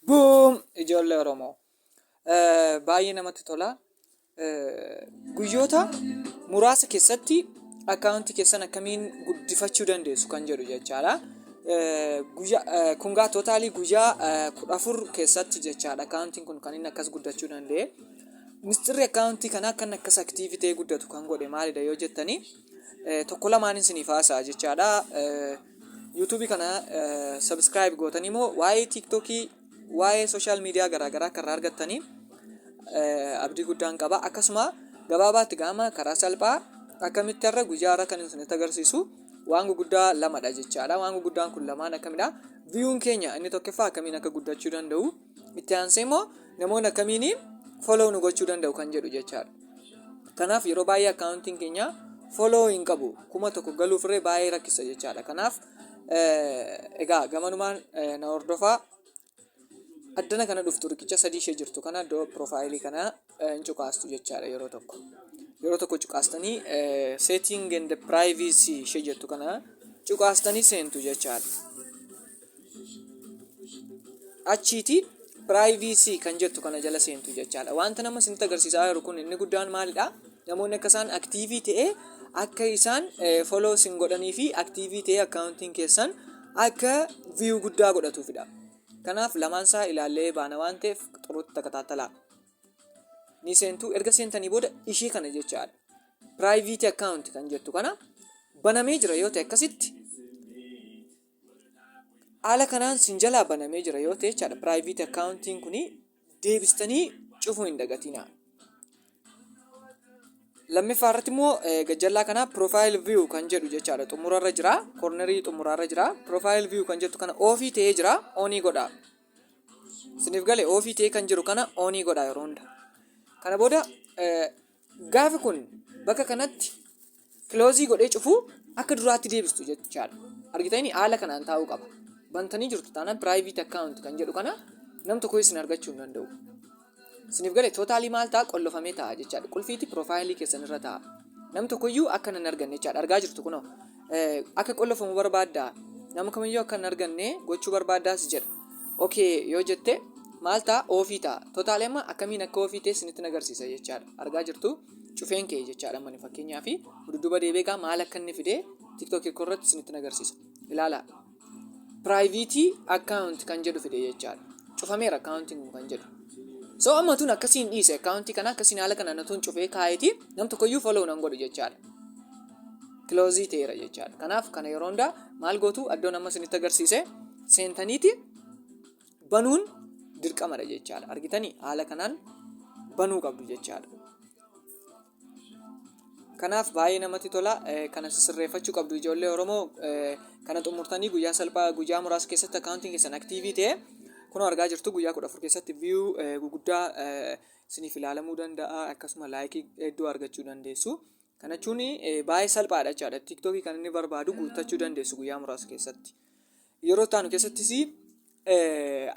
Boom! Ijoollee Oromoo. Eh, Baay'ee namatti tola. Eh, Guyyoota muraasa keessatti akkaawuntii keessan akkamiin guddifachuu dandeessu kan jedhu jechaadha. Eh, Guyyaa eh, kungaa tootaalii guyyaa eh, kudha afur keessatti jechaadha akkaawuntiin kun kan inni akkas guddachuu danda'e. Misxirri akkaawuntii kanaa kan akkas aktiivitee guddatu kan godhe maalidha yoo jettanii tokko lamaan isiniif haasa'a jechaadha. YouTube kana subscribe gootanii moo waa'ee TikTok waa'ee social media garaagaraa akka irraa argattanii abdii guddaan qaba. Akkasuma gabaabaatti gaama karaa salphaa akkamitti irra guyyaa irra kan isinitti agarsiisu waan guguddaa lamadha jechaadha. Waan guguddaan kun lamaan akkamidha? Viyuun keenya inni tokkoffaa akkamiin akka guddachuu danda'u? itti aansee immoo namoonni akkamiin follow nu gochuu danda'u kan jedhu jechaadha. Kanaaf yeroo baay'ee akkaawuntiin keenya follow hin qabu kuma tokko galuuf irree baay'ee rakkisa jechaadha. Kanaaf egaa gamanumaan na hordofaa addana kana dhuftu riqicha sadii ishee jirtu kana iddoo piroofaayilii kana hin cuqaastu jechaadha yeroo tokko yeroo tokko cuqaastanii setting and privacy ishee jettu kana cuqaastanii seentu jechaadha achiiti privacy kan jettu kana jala seentu jechaadha wanta nama isinitti agarsiisaa jiru kun inni guddaan maalidha namoonni akka isaan aktiivii ta'e akka isaan follow isin godhanii fi aktiivii ta'e akkaawuntiin keessan akka viyuu guddaa godhatuufidha kanaaf lamaan isaa ilaallee baana waan ta'eef xuruutti takataatalaa ni seentu erga seentanii booda ishee kana jechaadha private account kan jettu kana banamee jira yoo ta'e akkasitti haala kanaan sin jalaa banamee jira yoo ta'e jechaadha private accountiin kuni deebistanii cufuu hin dagatinaa lammiffaa irratti immoo eh, gajjallaa kana profile view kan jedhu jechaadha xumurarra jira cornerii xumurarra jira profile view kan jettu kana ofii ta'ee jira onii godha Isiniif gale oofii ta'ee kan jiru kana oonii godha yeroo hunda. Kana booda gaafi kun bakka kanatti kiloozii godhee cufuu akka duraatti deebistu jechaadha. Argitanii haala kanaan taa'uu qaba. Bantanii jirtu taanaan private account kan jedhu kana nam tokko isin argachuu hin danda'u. Isiniif gale tootaalii maal ta'a qollofamee ta'a jechaadha. Qulfiiti piroofaayilii keessan irra ta'a. Nam tokkoyyuu akka nan arganne jechaadha. Argaa jirtu kunoo. Akka qollofamu barbaadda. Nama kamiyyuu akka hin arganne gochuu barbaaddaas jedha. Okee yoo jette maal ta'a oofii ta'a. Tootaalii amma akkamiin akka oofii ta'e isinitti agarsiisa jechaadha. Argaa jirtu cufeen kee jechaadha amma fakkeenyaa fi dudduuba deebi'ee maal akka inni fidee tiktookii koo irratti isinitti agarsiisa. Ilaalaa. private account kan jedhu fide jechaadha cufameera accountiin kun kan jedhu so amma tun akkasiin dhiise accountii kana akkasiin haala kanaan tun cufee kaa'eeti nam tokkoyyuu follow nan godhu jechaadha kiloozii ta'eera jechaadha kanaaf kana yeroo hundaa maal gootu addoon amma isinitti agarsiise seentaniiti banuun dirqamadha jechaadha argitanii haala kanaan banuu qabdu jechaadha Kanaaf baay'ee namatti tola. Kana sirreeffachuu qabdu ijoollee Oromoo kana xumurtanii guyyaa salphaa guyyaa muraasa keessatti akkaawuntiin keessan aktiivii ta'e kunoo argaa jirtu guyyaa kudha afur keessatti viyuu guguddaa isiniif ilaalamuu danda'a akkasuma laayikii hedduu argachuu dandeessu. Kana jechuun baay'ee salphaadha jechaadha. Tiiktookii kan inni barbaadu guuttachuu dandeessu guyyaa muraasa keessatti. Yeroo itti aanu keessattis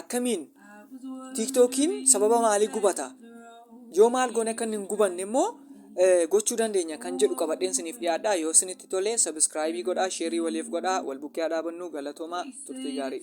akkamiin tiiktookiin sababa maalii gubata yoo maal goone akka inni hin gubanne immoo gochuu dandeenya kan jedhu qabadheen isiniif dhiyaadha yoo isinitti tole sabiskiraayibii godhaa sheerii waliif godhaa wal bukkee haa dhaabannu galatoomaa turtii gaarii.